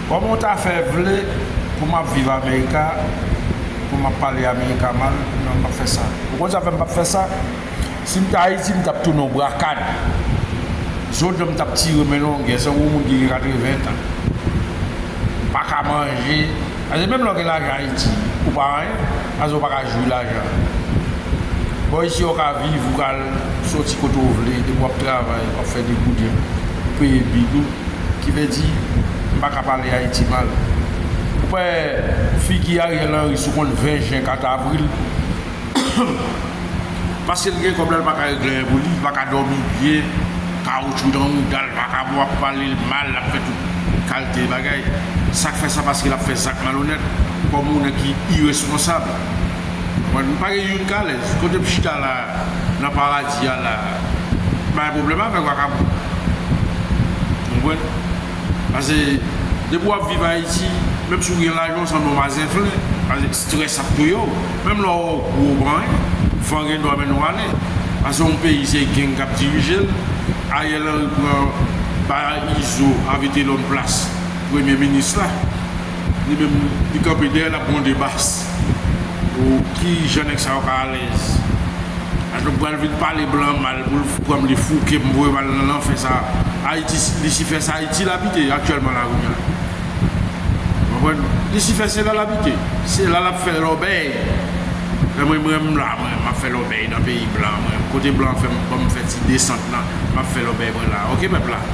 Koman w ta fè vle pou map viv america pou map pale america mal nan map fè sa ou konn sa fè m pap fè sa si m t ayiti m tap tounen w brakad zo dan m tap tire men longè san gwo moun ki gen 80 tan m paka manje paske menm lè w gen lajan ayiti ou pa anyen paske ou paka jwi lajan bon isi ou ka viv ou ka al soti kote w vle depi wap travay wap fè degouden ou peye bil ou. ki vle di m pa ka pale Ayiti mal. Ou pa wè figi Ariel Henry sou konn 20 jen kat avril paske l gen kòb la l pa ka regle anyen pou li, l pa ka dòmi byen, kawotchou nan mouda l pa ka bon ap pale l mal l ap fè tout kalte bagay. Sa k fè sa paske l ap fè zak malonèt kòm yon nèg ki iresponsab. Mwen pa gen youn k alèz. Kote m chita la a, nan paradi a la a, m pa gen pwoblèm avèk vakabon. Ou konprann? Pase, depi w ap viv Ayiti, menm si w gen lajan, w sanble yon mazenflen. Pase, strès ap touye w. Menm lè w wè w gwo, w pa anyen. Van gen dwa mennen w ale. Pase, yon peyi se geng k ap dirije l. Ariel Henry pran, bay Izo ak Vitelòm plas premye minis la. Li menm, li kanpe dèyè l ap gwonde bas. Pou ki jan nèg sa yo ka alèz ak yo pral vin pale blan mal pou l fou kòm li fou ke m voye m al nan lanfè sa ayiti lisifè sa ayiti l abite aktyèlman la kounya ou konprann lisifè se la l abite se la l ap fè lòbèy lè mwen m renmn la mwen m ap fè lòbèy nan peyi blan mwen kote blan fè m ban m fè ti desant nan m ap fè lòbèy mwen la ok pèp la.